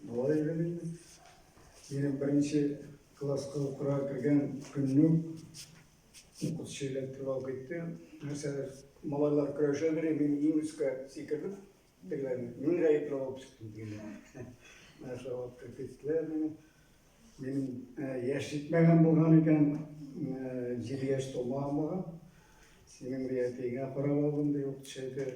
Малай идем инде. Минем беренче класска укырга кергән көннең укытучы эләктереп алып китте. Нәрсәләр малайлар көрәшә бери, мин иң өскә сикердем. Дигән, мин гаепле булып чыктым дигән. Нәрсә алып киттеләр мине. Минем яшь җитмәгән булган икән, җиде яшь тулмаган булган. Синең әтиеңә карап алдым, ди укытучы әйтер.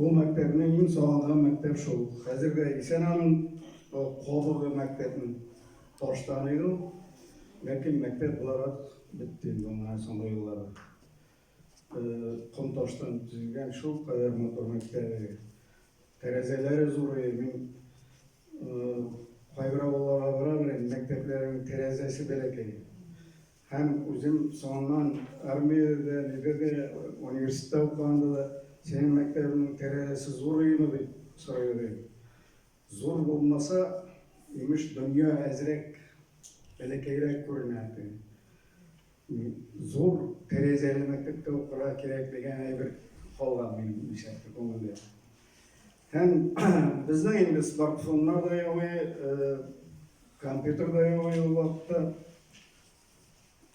Ул мәктәпнең иң сагынган мәктәп шул. Хәзер дә исән аның кабыгы мәктәпнең. Таштан иде ул. Ләкин мәктәп буларак бетте инде аңа соңгы еллары. Ком таштан төзелгән шул кадәр матур мәктәбе. Тәрәзәләре зурый. Мин кайбер авылларга барам әле, мәктәпләрнең тәрәзәсе бәләкәй. Һәм үзем соңыннан армиядә дә, нидә дә, университетта укыганда да, Синең мәктәбеңнең тәрәзәсе зур өеме? дип сорый иде. Зур булмаса, имеш, дөнья әзрәк, бәләкәйрәк күренә, ди. Зур тәрәзәле мәктәптә укырга кирәк дигән әйбер калган минем исәптә, күңелдә. Һәм безнең инде смартфоннар да юк, компьютер да юк ул вакытта,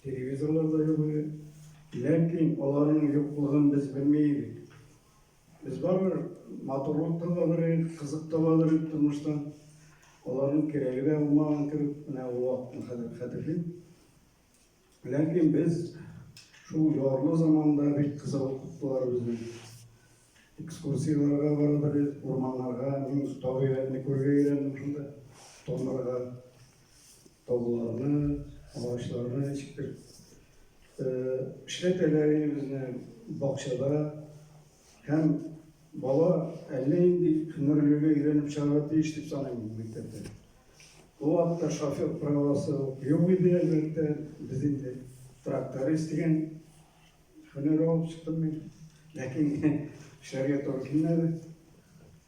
телевизорлар да юк иде. Ләкин аларның юклыгын без белми идек. Без барыбер матурлык табалар идек, кызык табалар идек тормыштан. Аларның кирәге дә булмаган кебек, менә ул вакытны хәтерлим. Ләкин без шул ярлы заманда бик кыса укыттылар безне. Экскурсияләргә бардык без, урманнарга, мин табигатьне күрергә өйрәндем шунда. Томырга, тауларны, агачларны ничектер эшләтәләр безне бакчада һәм бала әллә нинди һөнәрләргә өйрәнеп чыгарга тиеш дип саныйм мектәптә. Ул вакытта шофер правасы ук юк иде, әлбәттә. Без инде тракторист дигән һөнәр алып чыктым мин. Ләкин эшләргә туры килмәде.